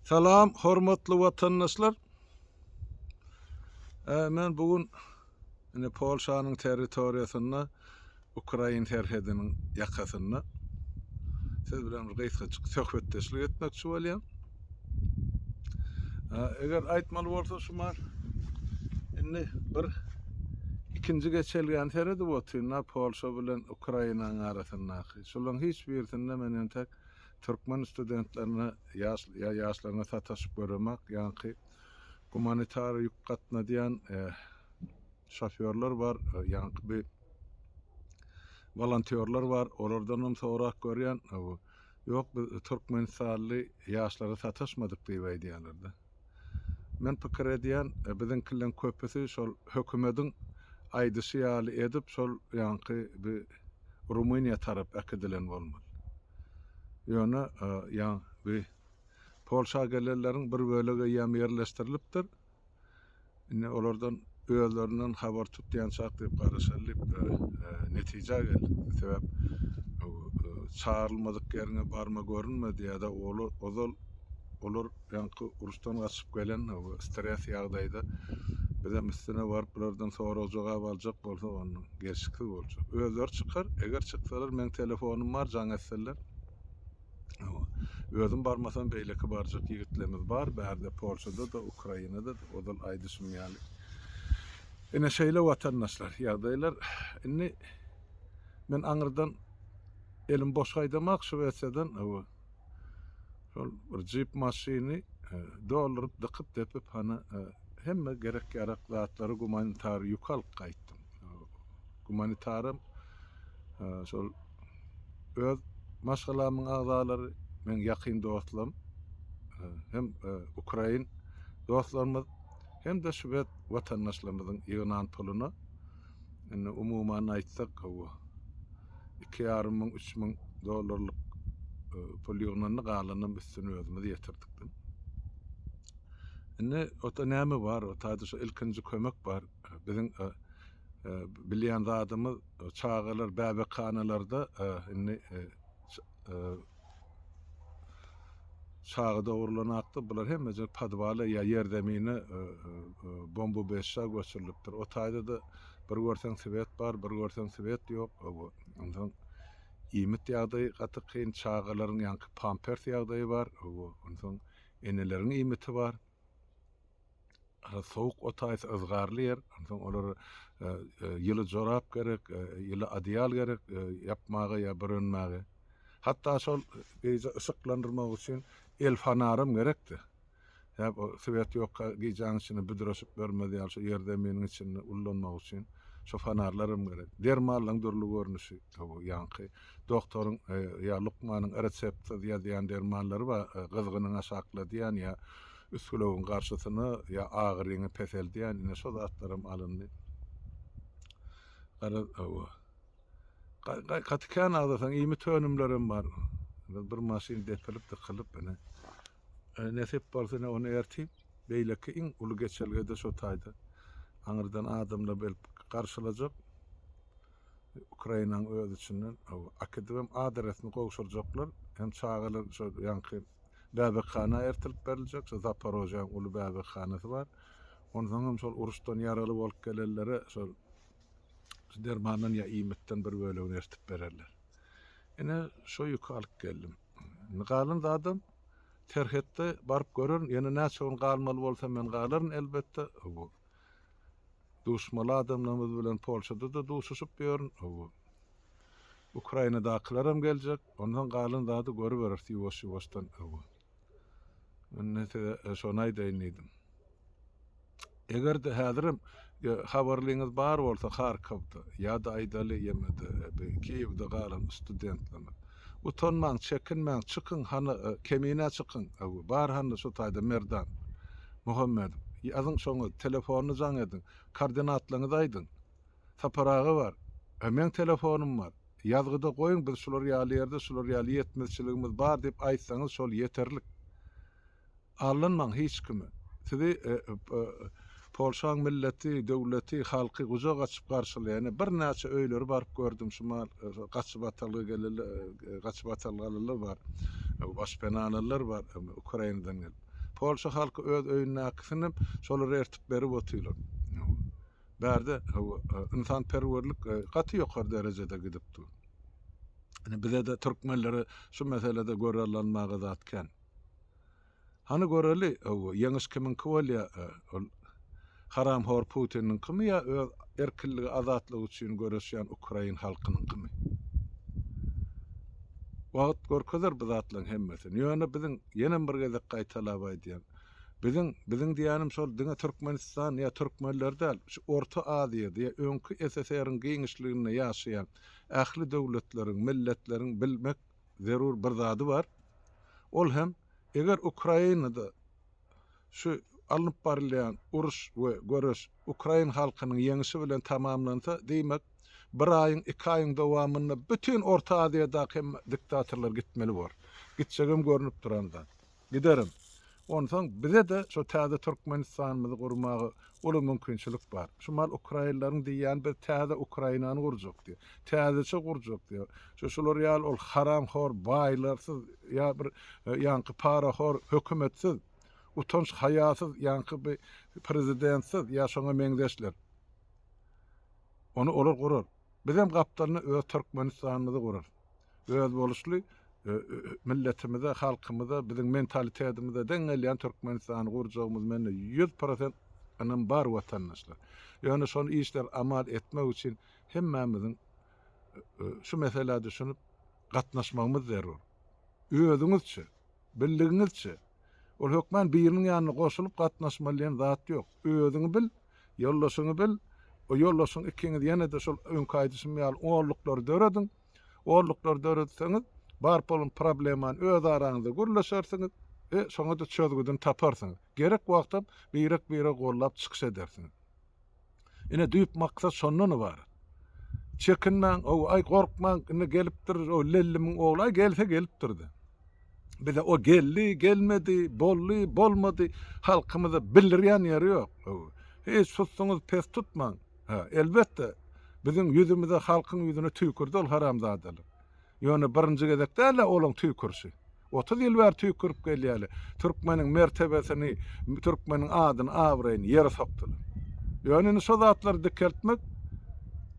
Salam hormatly watandaşlar. Ee, men bu gün ine Polşanyň territoriýasynda Ukrain serhediniň ýakasynda siz bilen bir gysgaçyk söhbetdeşlik etmekçi bolýan. Eger aýtmaly bolsa şu mal indi bir ikinji geçelgäni seredi otynda Polşa bilen Ukrainanyň arasyndaky. Şolaryň hiç birisinde men entek türkmen studentlerine ýa ýaşlaryna sataşyp göremak, ýaňky gumanitar ýük gatnadýan şofýorlar bar, ýaňky bi wolontýorlar bar, olardanam sorap görýän, ýok biz türkmenistanly ýaşlara sataşmadyk diýip aýdýarlar-da. Men pikir edýän, biziňkileriň köpüsi şol hökümediň aýdyşy ýaly edip şol ýanky bi Rumyniýa tarap äkidilen bolmaly. Ýöne ýan bi Polşa gelenleriň bir bölege ýam ýerleşdirilipdir. Indi olardan özlerinden habar tutýançak diýip garaşaly diýip netijä geldik. Sebäp çagyrylmadyk ýeriňe barma görünme diýýärdi. Olar ozal olar ýaňky uruşdan gaçyp gelen stres ýagdaýda bizem üstüne baryp bulardan sorag jogap aljak bolsa onda gelşiksiz boljak. Özleri çykar, eger çyksalar meň telefonym bar jaň etseler. Özüm barmasam beýleki barjak ýigitlerimiz bar. Bärde Polşada-da, Ukrainada-da ozal aýdyşym ýaly. Ine şeýle watandaşlar, ýagdaýlar. Indi men aňyrdan elim boş gaýdamak Şwesiýadan hawa. Şol bir jip maşyny dolduryp, dykyp, depip hany hemme gerek-ýarak zatlary gumanitar ýük alyp gaýtdym. Gumanitaram şol öz maşgalamyň agzalary, meň ýakyn dostlarym hem ukrain dostlarymyz hem-de şwed watandaşlarymyzyň ýygnan puluna, indi umuman aýtsak gowy, iki ýarym müň, üç müň dollarlyk pul ýygnandy, galanam üstüni özümiz ýetirdik diýip. Indi otda näme bar, otda şu ilkinji kömek bar. Biziň Bilýän zadymyz, çagalar bäbekhanalarda indi çaga dogrulanakda bular hemmeje podwala ýa ýerzemine bomba beşja göçürilipdir. O taýda-da bir görseň swet bar, bir görseň swet ýok. Onsoň iýmit ýagdaýy gaty kyn, çagalaryň ýaňky pampers ýagdaýy bar. Onsoň eneleriň iýmiti bar. sowuk otaýsa yzgarly ýer, onsoň olara e, e, ýyly jorap gerek, e, ýyly adyýal gerek ýapmaga ýa bürenmäge. Hatda şol gije yşyklandyrmak üçin el fanaram gerekdi. Ýa o swet ýokka gijäň içinde büdreşip görmez ýaly şu ýer zeminiň içinde ullanmak üçin şu fanarlaram gerek. Dermallaryň dürli görnüşi, bu ýaňky Doktoryň ýa lukmanyň reseptsiz ýazýan dermanlary bar, gyzgynyňy aşakladýan ýa üsgülewüň garşysyny ýa agyryňy peseldýän, ine şo zatlaram alyndy. Garaz, hawa. Gaty kän agzasaň iýmit önümlerem bar. Bir maşyn depilip, dykylyp, ine. Nesip bolsa ine ony ertir beýleki iň uly geçelgede şo taýda aňyrdan adamlar gelip garşylajak. Ukrainanyň öz içinden akedibem A deresini gowşurjaklar. Hem çagalar şu ýanky bäbekhana ertirip beriljek. Şu Zaporojýäň uly bäbekhanasy bar. Onsoň hem şol uruşdan ýaraly bolup gelenlere şol şu dermandan ýa iýmitden bir bölegini ertip bererler. Ine şu ýüki alyp geldim. Indi galan zadam serhetde baryp görerin. Ýene näçe gün galmaly bolsa men galaryn elbetde. Bu Duşmaly adamlarymyz bilen Polşada-da duşuşyp ýörün. Hawa. Ukrainadakylaram geljek. Ondan galan zady görüberis ýuwaş-ýuwaşdan. Hawa. Indi size şony aýdaýyn diýdim. Eger-de häzirem habarlyňyz bar bolsa Harkowda ýa-da aýdaly ýemede Kiýewde galan studentlerimiz. Utanmaň, çekinmäň, çykyň, hany, Kemine, çykyň, öwi, bar, hany, şu taýda Merdan. Muhammedow, ýazyň şoňa, telefonyny jaň ediň, koordinatlaryňyzy aýdyň. Sapar aga bar. Hä, meň telefonym bar. Ýazgyda goýuň, biz şular ýaly ýerde, şular ýaly ýetmezçiligimiz bar diýip aýtsaňyz, şol ýeterlik. Aldanmaň hiç kimi. Sizi Polşaň milleti, döwleti, halky gujak açyp garşylaýar. Ene birnäçe öýleri baryp gördüm şumal gaçybatalga gelenler, gaçybatalgalylar bar. Başpenalylar bar Ukrainadan gelip. Polşa halky öz öýündäkisini hem şolar ertip berip otyrlar. Bärde ynsanperwerlik gaty ýokary derejede gidip dur. Ene bizede türkmenlere şu meselede görallanmaga zat kän. Hany göreli öw ýeňiş kimiňki bolýa ol haramhor Putiniňkimi ýa öz erkinligi azatlygy üçin göreşýän ukrain halkynyňkymy. Wagt görkezer bu zatlaň hemmesini ýöne biziň ýenem bir gezek gaýtalap aýdýan biziň biziň diýýänim şol diňe Türkmenistan ýa Türkmenler däl şu Orta Aziýada ýa öňki SSR-iň giňişliginde ýaşaýan ähli döwletleriň milletleriň bilmek zerur bir zady bar. Ol hem eger Ukrainada şu alnyp barylýan uruş we göreş ukrain halkynyň ýeňişi bilen tamamlansa, diýmek, bir aýyň, iki aýyň dowamynda bütin Orta Aziýadaky hemme diktatorlar gitmeli bor. Gitjegem görnüp duran zat. Giderin. Onsoň bize-de şo täze Türkmenistanymyzy gurmaga uly mümkinçilik bar. Şu mal ukrainleriň diýýäni biz täze Ukrainany gurjak diýýär. Täzeçe gurjak diýýär. Şu şular ýaly ol haramhor baýlarsyz ýa bir ýaňky parahor hökümetsiz, utanç haýasyz ýaňky bi prezidentsiz ýa şoňa meňzeşler. Ony olar gurar. Bizem gapdalynda öz Türkmenistanymyzy gurarys. Özboluşly milletimize, halkymyza, biziň mentalitetimizde deň gelýän Türkmenistany gurjagymyz mende ýüz prosent ynam bar watandaşlar. Ýöne şol işler amal etmek üçin hemmämiziň şu meselä düşünip gatnaşmagymyz zerur. Özüňizçe. Bildigiňizçe, ol hökmän biriniň ýanyna goşulyp gatnaşmaly diýen zat ýok. Özüňi bil, ýoldaşyňy bil, o ýoldaşyň ikiňiz ýene-de şol öňki aýdyşym ýaly orluklary dörediň. Orluklary döretseňiz, bar bolan problemany öz araňyzda gürleşersiňiz we şoňa-da çözgüdini taparsyňyz. Gerek wagtam birek-biregi gollap çykyş edersiňiz. Ine düýp maksat şondan ybarat. Çekinmäň, hawa, aý gorkmaň, indi gelipdir o Lellimiň ogly, aý gelse gelipdir-de. Bize o geldi, gelmedi, boldy, bolmady, halkymyza bildirýän ýeri ýok. Hawa. Hiç susuňyz pes tutmaň. Hä, elbetde, biziň ýüzümize, halkyň ýüzüne tüýkürdi ol haramzadalar. Ýöne birinji gezek däl-ä olaň tüýkürşi. Otuz ýyl bäri tüýkürip gelýäli türkmeniň mertebesini, türkmeniň adyny, abraýyny ýere sokdular. Ýöne indi şo zatlary dikeltmek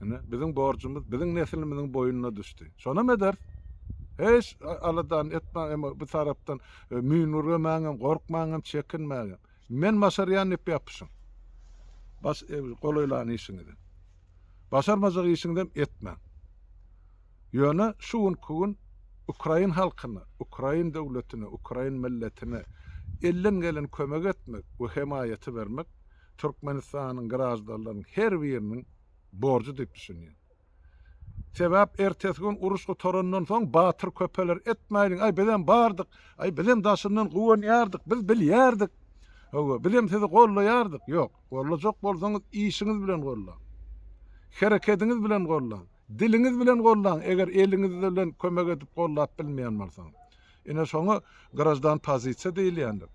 ine biziň borjumyz, biziň neslimiziň boýnuna düşdi. Şonam ederis. Hiç aladany etmäň, emma bir tarapdan e, müýnürgemäň hem, gorkmaň hem, çekinmäň hem. Men başarýan diýip ýapyşyň. Baş e, golaýlan işiňizi. Başarmajak işiňizem etmäň. Ýöne şu günki gün ukrain halkyna, ukrain döwletine, ukrain milletine elden gelen kömegi etmek we hemaýaty bermek Türkmenistanyň graždanlarynyň her biriniň borjy diýip düşünýän. Sebäp ertesi gün uruş gutarandan soň batyr köpeler etmäýliň, aý bizem bardyk, aý bizem daşyndan guwanýardyk, biz bilýärdik, hawa bizem sizi gollaýardyk, ýok, gollajak bolsaňyz işiňiz bilen gollaň, herekediňiz bilen gollaň, Diliňiz bilen goldaň, eger eliňiz bilen kömek edip goldap bilmeýän bolsaňyz. Ine şoňa graždan pozisiýa diýilýändir.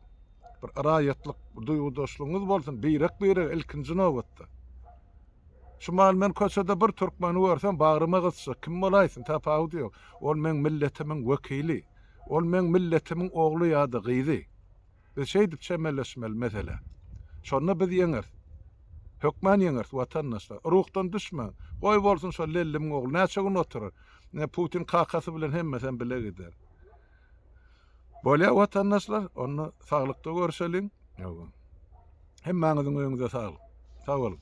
Bir raýatlyk duýgudaşlygyňyz bolsun, birek-birege ilkinji nobatda. Şu maly men köçede bir türkmeni görsem bagryma gysjak, kim bolaýsyn tapawudy ýok. Ol meň milletimiň wekili. Ol meň milletimiň ogly ýa-da gyzy. Biz şeýdip çemeleşmeli meselä. Şonda biz ýeňeris. Hökman ýeňeris watandaşlar. Ruhdan düşmäň. Goý bolsun şo Lellimiň ogly näçe gün oturar. Ine Putin kakasy bilen hemmesem bile gider. Bolýa watandaşlar, onda saglykda görüşeliň. Ýoga. Hemmäňiziň öýüňize saglyk. Sag boluň.